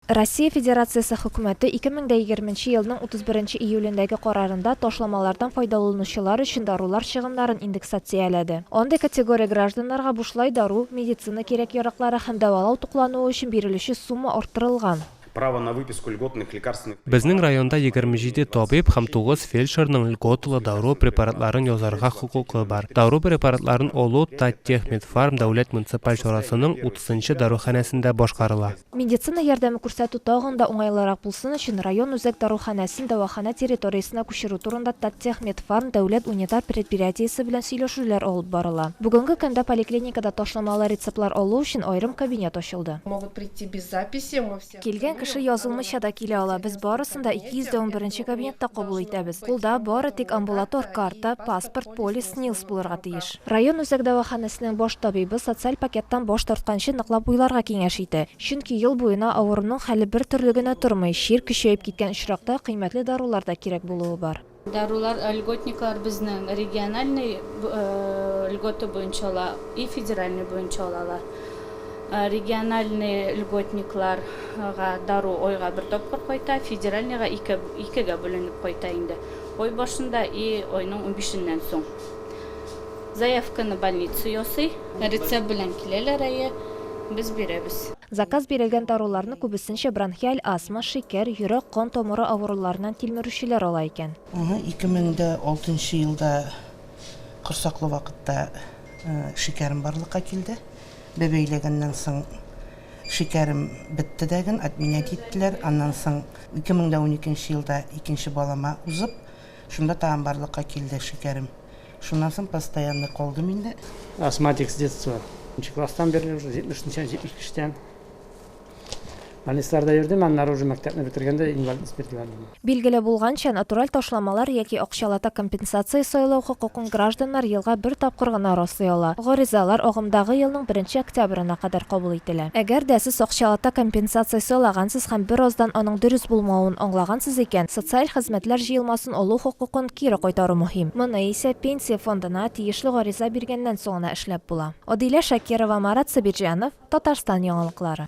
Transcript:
Россия Федерациясе Хөкүмәте 2020 елның 31 июлендәге карарында ташламалардан файдаланучылар өчен дарулар чыгымнарын индексацияләде. Андый категория гражданнарга бушлай дару, медицина кирәк-яраклары һәм дәвалау туклануы өчен бирелүче сума арттырылган. Право на выписку льготных лекарственных препаратов. Безнең районда 27 табиб һәм 9 фельдшерның льготалы дару препаратларын язарга хокукы бар. Дару препаратларын Олу Таттехмедфарм дәүләт муниципаль чарасының утызынчы даруханәсендә башкарыла. Медицина ярдәме күрсәтү тагын да уңайлырак булсын өчен, район үзәк даруханәсен дәваханә территориясенә күчерү турында Таттехмедфарм дәүләт унитар предприятиесе белән сөйләшүләр алып барыла. Бүгенге көндә поликлиникада ташламалы рецептлар алу өчен аерым кабинет ачылды. Килгән кеше язылмыйча да килә ала, без барысын да 200 дә унберенче кабинетта кабул итәбез. Кулда бары тик амбулатор карта, паспорт, полис, СНИЛС булырга тиеш. Район үзәк дәваханәсенең баш табибы социаль пакеттан баш тартканчы ныклап уйларга киңәш итә. Чөнки ел буена авыруның хәле бер төрле генә тормый, чир көчәеп киткән очракта кыйммәтле дарулар да кирәк булуы бар. Дарулар льготниклар безнең региональный льгота буенча ала и федеральный буенча алалар. Региональный льготникларга дару айга бер тапкыр кайта, федеральныйга ике, икегә бүленеп кайта инде. Ай башында и айның унбишеннән соң. Заявканы больница ясый. Рецепт белән киләләр, әйе, без бирәбез. Заказ бирелгән даруларны күбесенчә бронхиаль астма, шикәр, йөрәк, кан тамыры авыруларыннан тилмерүчеләр ала икән. Аны 2006 нчы елда корсаклы вакытта шикәрем барлыкка килде. Бәбәй ләгәннән соң шикәрем бетте дәген, отменять иттеләр. Аннан соң 2012 нче елда икенче балама узып, Шунда тагын барлыкка килде, шикәрем. Шуннан соң постоянный калдым инде. Астматик с детства. Нче класстан бирле уже, 70 нче, 72 тән. Больницаларда йөрдем, аннары уже мәктәпне бетергәндә инвалид диспетерландым. Билгеле булганча, натураль ташламалар яки акчалата компенсация сайлау хокукын Гражданнар елга бер тапкыр гына раслый ала. Гаризалар агымдагы елның беренче октябрена кадәр кабул ителә. Әгәр дә сез акчалата компенсация сайлагансыз һәм бераздан аның дөрес булмавын аңлагансыз икән, социаль хезмәтләр җыелмасын алу хокукын кире кайтару мөһим. Моны исә Пенсия фондына тиешле гариза биргәннән соң гына эшләп була. Адилә Шакирова, Марат Сабирҗанов, Татарстан яңалыклары.